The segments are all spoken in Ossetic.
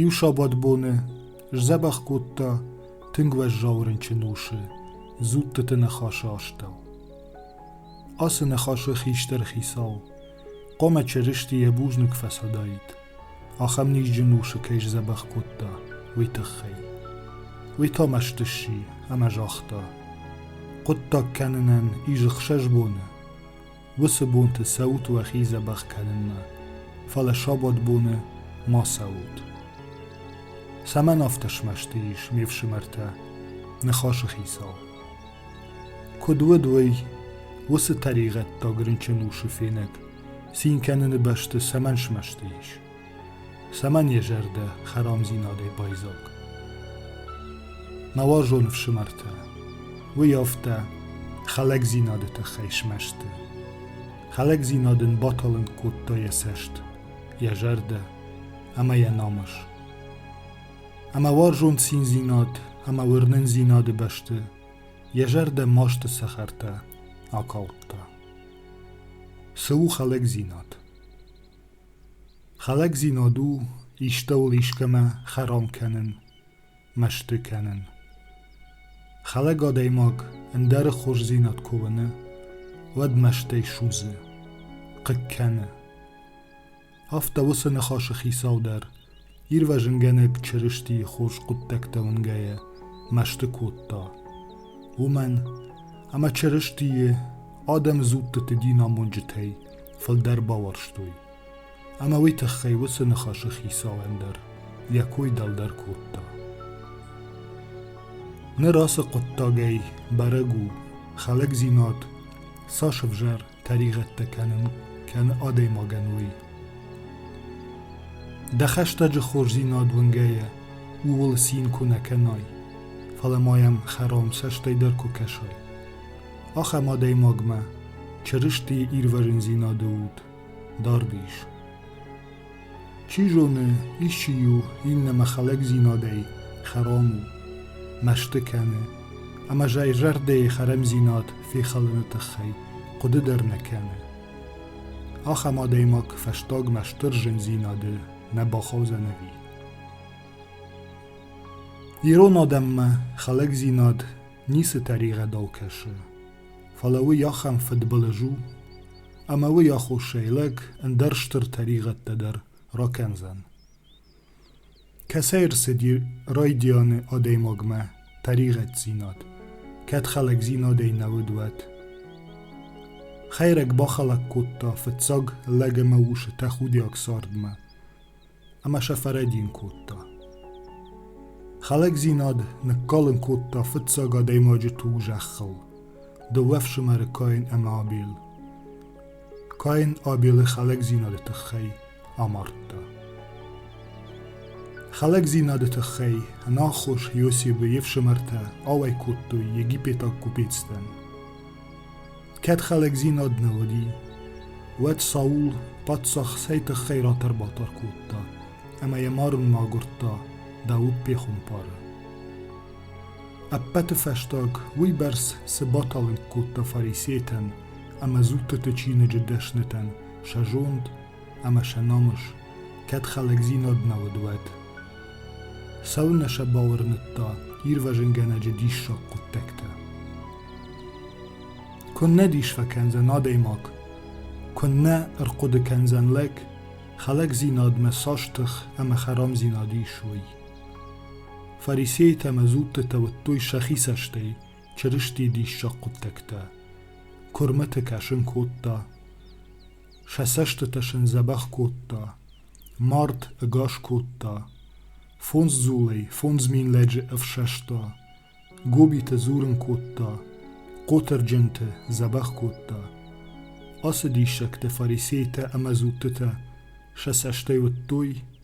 Иу сабатбоны сдзӕбӕх кодта тынг уӕззау рынчын усы дзуттыты ныхасы астӕу. Ацы ныхасы хистӕр хицау хъуамӕ Чырысти йӕ бузныг фӕцадаид, ахӕм низджын усы кӕй сдзӕбӕх кодта, уый тыххӕй. Уый та мӕсты сси ӕмӕ загъта: «Хъуыддаг кӕнынӕн изы хсӕз боны, уыцы бонты цӕут уӕхи дзӕбӕх кӕнынмӕ, фӕлӕ сабатбоны ма цӕут. Цӕмӕн афтӕ смӕсты ис ме фсымӕртӕ, ныхасы хицау? Куыд уыд уый, уыцы тӕригъӕддаг рынчын усы фенӕг цин кӕныны бӕсты цӕмӕн смӕсты ис? Цӕмӕн е зӕрдӕ хӕрамдзийнадӕй байдзаг? Мӕ уарзон ӕфсымӕртӕ, уый афтӕ хӕлӕгдзинады тыххӕй смӕсты. Хӕлӕгдзинад ын баталынг кодта йӕ цӕст, йӕ зӕрдӕ ӕмӕ йӕ намыс. Ӕмӕ уарзон циндзинад ӕмӕ уырнындзинады бӕсты йӕ зӕрдӕ масты цӕхӕртӕ акалдта. Цы у хӕлӕгдзинад? Хӕлӕгдзинад у истӕуыл искӕмӕ хӕрам кӕнын, мӕсты кӕнын. Хӕлӕг адӕймаг ӕндӕры хорздзинад куы уыны, уӕд мӕстӕй судзы, хъыг кӕны. Афтӕ уыцы ныхасы хицау дӕр Ирвӕзынгӕнӕг Чырыстийы хорз хъуыддӕгтӕ уынгӕйӕ мӕсты кодта, уымӕн ӕмӕ Чырыстийы адӕмы дзуттыты динамонджытӕй фылдӕр бауарзтой, ӕмӕ уый тыххӕй уыцы ныхасы хицауӕн дӕр йӕ кой дӕлдӕр кодта. Ныр ацы хъуыддагӕй бӕрӕг у, хӕлӕгдзинад цас ӕвзӕр тӕригъӕдтӕ кӕнын кӕны адӕймагӕн уый. Дӕ хӕстӕджы хорздзинад уынгӕйӕ ууыл цин куы нӕ кӕнай, фӕлӕ ма йӕм хӕрам цӕстӕй дӕр куы кӕсай. Ахӕм адӕймагмӕ Чырыстийы ирвӕзындзинады уд дард ис. Чи зоны, исчи-иу иннӕмӕ хӕлӕгдзинадӕй хӕрам у, мӕсты кӕны, ӕмӕ зӕй зӕрдӕйы хӕрамдзинад фехалыны тыххӕй хъуыды дӕр нӕ кӕны. Ахӕм адӕймаг фӕстагмӕ стыр зындзинады нӕ бахаудзӕнӕви. Ирон адӕммӕ хӕлӕгдзинад ницы тӕригъӕд кӕсы, фӕлӕ уый ахӕм фыдбылыз у, ӕмӕ уый аххосӕй лӕг ӕндӕр стыр тӕригъӕдтӕ дӕр ракӕндзӕн. Кӕцӕй рцыди райдианы адӕймагмӕ тӕригъӕддзинад, кӕд хӕлӕгдзинадӕй нӕ уыд, уӕд? Хӕйрӕг бахӕлӕг кодта фыццаг лӕг ӕмӕ усы тӕхудиаг цардмӕ. ӕмӕ сӕ фӕрӕдийын кодта. Хӕлӕгдзинад ныккалын кодта фыццаг адӕймаджы туг зӕххыл, дыууӕ фсымӕры Каин ӕмӕ Абел. Каин Абелы хӕлӕгдзинады тыххӕй амардта. Хӕлӕгдзинады тыххӕй ӕнаххос Иосибы йе фсымӕртӕ ауӕй кодтой египетаг купецтӕн. Кӕд хӕлӕгдзинад нӕ уыди, уӕд Саул паддзах цӕй тыххӕй ратӕрбатӕр кодта ӕмӕ йӕ марынмӕ агуырдта Дауыт пехуымпары. Ӕппӕты фӕстаг уыйбӕрц цы баталынг кодта фарисейтӕн ӕмӕ дзуттыты чиныджы дӕснытӕн сӕ зонд ӕма сӕ номус кӕд хӕлӕгдзинад нӕ уыд, уӕд. Цӕуылнӕ сӕ бауырныдта ирвӕзынгӕнӕджы диссаг хъуыддӕгтӕ? Куыннӕ дис фӕкӕндзӕн адӕймаг, куыннӕ ӕрхъуыды кӕндзӕн лӕг, хӕлӕгдзинадмӕ цас тых ӕмӕ хӕрамдзинад ис, уый. Фарисейтӕ ӕмӕ зудтытӕ уыдтой сӕхи цӕстӕй Чырыстийы диссаг хъуыддӕгтӕ. Куырмыты кӕсын кодта, Сӕ цӕстытӕ сын дзӕбӕх кодта, мард ӕгас кодта, фондз дзулӕй фондз мин лӕджы ӕфсӕста, гобитӕ дзурын кодта, хъотырджынты дзӕбӕх кодта. Ацы диссӕгты фарисейтӕ ӕмӕ дзуттытӕ сӕ цӕстӕй уыдтой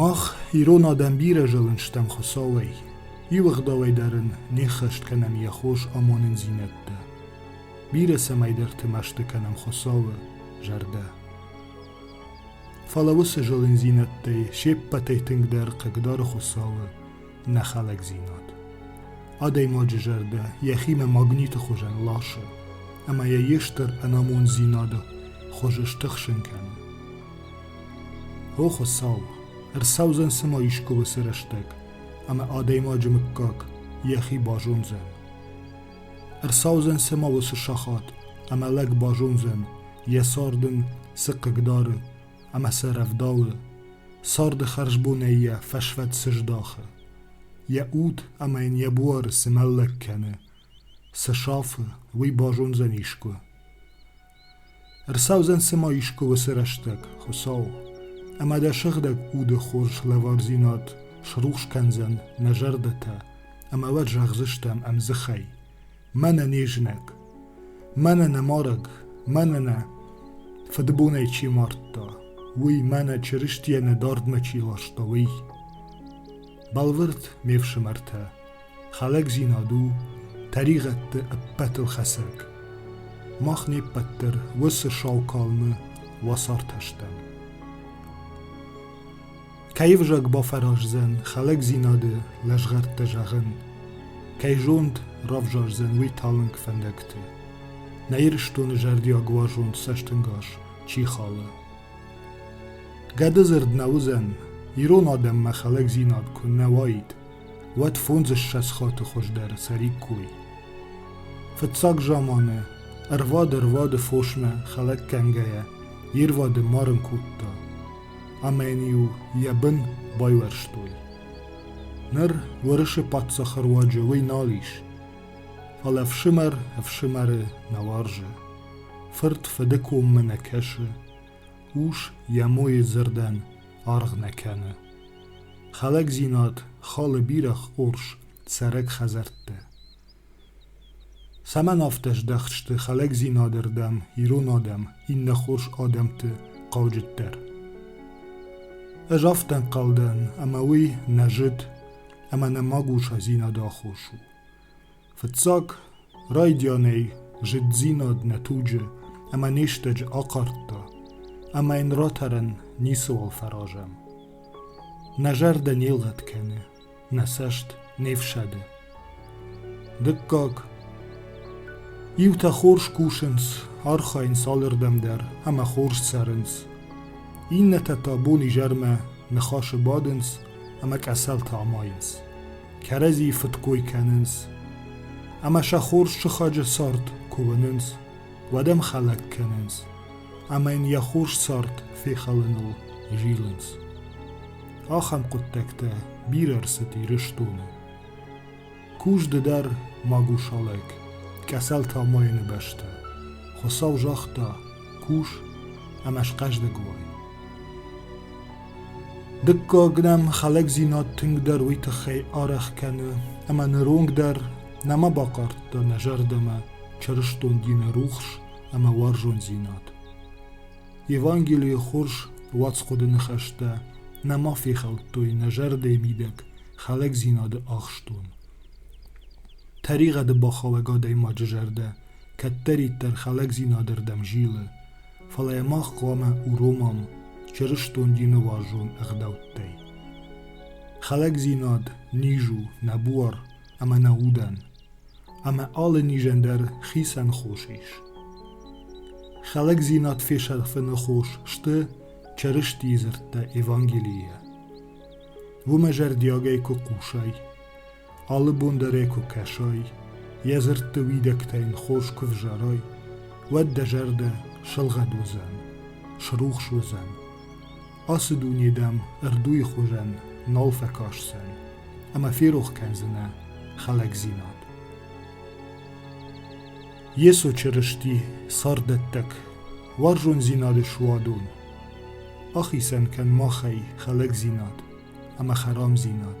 Мах, ирон адӕм, бирӕ зылын стӕм Хуыцауӕй, иу ӕгъдауӕй дӕр ын не ххӕст кӕнӕм йӕ хорз амонындзинӕдтӕ. Бирӕ цӕмӕйдӕрты мӕсты кӕнӕм Хуыцауы зӕрдӕ. Фӕлӕ уыцы зылындзинӕдтӕй се ппӕтӕй тынгдӕр хъыгдары Хуыцауы нӕхӕлӕгдзинад. Адӕймаджы зӕрдӕ йӕхимӕ магниты хуызӕн ласы, ӕмӕ йӕ йе стыр ӕнамонддзинады хуыз стыхсын кӕны. О Хуыцау, ӕрцӕудзӕн цыма искуы уыцы рӕстӕг, ӕмӕ адӕймаджы мыггаг йӕхи базондзӕн. Ӕрцӕудзӕн цыма уыцы сахат, ӕмӕ лӕг базондзӕн, йӕ цард ын цы хъыг дары ӕмӕ цы рӕвдауы, царды хӕрзбонӕй йӕ фӕсвӕд цы здахы, йӕ уд ӕмӕ йын йӕ буары цы мӕллӕг кӕны, цы сафы, уый базондзӕн искуы. Ӕрцӕудзӕн цыма искуы уыцы рӕстӕг, Хуыцау, ӕмӕ дӕ сыгъдӕг уды хорз лӕвардзинад срухс кӕндзӕн нӕ зӕрдӕтӕ, ӕмӕ уӕд зӕгъдзыстӕм ӕмдзыхӕй: Мӕнӕ не знаг, мӕнӕ нӕ марӕг, мӕнӕ нӕ фыдбонӕй чи мардта, уый, мӕнӕ Чырыстийӕ нӕ дардмӕ чи ласта, уый. Бӕлвырд, ме фсымӕртӕ, Хӕлӕгдзинад у тӕригъӕдты ӕппӕтыл хӕцӕг. Мах не ппӕт дӕр уыцы сау калмы уацартӕ стӕм. Кӕй ӕвзаг бафӕраздзӕн хӕлӕгдзинады лӕзгъӕрттӕ зӕгъын, кӕй зонд равзардзӕн уый талынг фӕндӕгты. Нӕ Ирыстоны зӕрдиаг уарзон цӕстынгас чи халы. Гӕды дзырд нӕ уыдзӕн, ирон адӕммӕ хӕлӕгдзинад куы нӕ уаид, уӕд фондзыссӕдз хаты хуыздӕры цӕриккой. Фыццаг заманы ӕрвад-ӕрвады фосмӕ хӕлӕг кӕнгӕйӕ ирвады марын кодта, ӕмӕ йын-иу йӕ бын байуӕрстой. Ныр Уырысы паддзахы руаджы уый нал ис, фӕлӕ ӕфсымӕр ӕфсымӕры нӕ уарзы, фырт фыды коммӕ нӕ кӕсы, ус йӕ мойы дзырдӕн аргъ нӕ кӕны. Хӕлӕгдзинад халы бирӕ хорз цӕрӕг хӕдзӕрттӕ. Цӕмӕн афтӕ здӕхт сты хӕлӕгдзинады рдӕм ирон адӕм иннӕ хорз адӕмты хъауджыддӕр? Ӕз афтӕ ӕнхъӕл дӕн, ӕмӕ уый нӕ зыд ӕмӕ нӕ магусадзинады аххос у. Фыццаг райдианӕй зыддзинад нӕ туджы ӕмӕ не стӕджы ахъардта, ӕмӕ йын ратӕрӕн ницыуал фӕразӕм. Нӕ зӕрдӕ не лгъӕд кӕны, нӕ цӕст не фсӕды. Дыккаг. Иутӕ хорз кусынц, архайынц алырдӕм дӕр ӕмӕ хорз цӕрынц. Иннӕтӕ та бон-изӕрмӕ ныхасы бадынц ӕмӕ къӕсӕлтӕ амайынц. кӕрӕдзи фыдкой кӕнынц ӕмӕ сӕ хорз сыхаджы цард куы уынынц, уӕд ӕм хӕлӕг кӕнынц ӕмӕ йын йӕ хорз цард фехӕлыныл зилынц. Ахӕм хъуыддӕгтӕ бирӕ ӕрцыд Ирыстоны. Кузды дӕр магусалӕг, Кӕсӕл Тамайыны бӕстӕ. Хуыцау загъта, кус ӕма схъӕздӕг уай. Дыккаг нӕм хӕлӕгдзинад тынгдӕр уый тыххӕй арӕх кӕны, ӕмӕ ныронг дӕр нӕма бахъардта нӕ зӕрдӕмӕ чырыстондий нӕ рухс ӕмӕ уарзондзинад. Евангелийы хорз уацхъуыды ныхӕстӕ нӕма фехӕлдтой нӕ зӕрдӕйы мидӕг хӕлӕгдзинады ахстон. Тӕригъӕды бахауӕг адӕймаджы зӕрдӕ кӕддӕриддӕр хӕлӕгдзинады рдӕм зилы, фӕлӕ йӕ мах хъуамӕ уромӕм чырыстон динуарзон ӕгъдӕуттӕй. Хӕлӕгдзинад низ у нӕ буар ӕмӕ нӕ удӕн, ӕмӕ алы низӕн дӕр хицӕн хос ис. Хӕлӕгдзинад фесӕфыны хос сты Чырыстийы дзырдтӕ Евангелийӕ. Уымӕ зӕрдиагӕй куы хъусай, Алы бон дӕр ӕй куы кӕсай, Йӕ дзырдты уидӕгтӕ йын хорз куы взарай, Уӕд дӕ зӕрдӕ сылгъӕд уыдзӕн, срухс уыдзӕн. Ацы дуне дӕм ӕрдуйы хуызӕн нал фӕкӕсдзӕн, Ӕмӕ ферох кӕндзынӕ хӕлӕгдзинад. Йесо Чырысти царддӕттӕг, уарзондзинады суадон, ахицӕн кӕн махӕй хӕлӕгдзинад ӕмӕ хӕрамдзинад.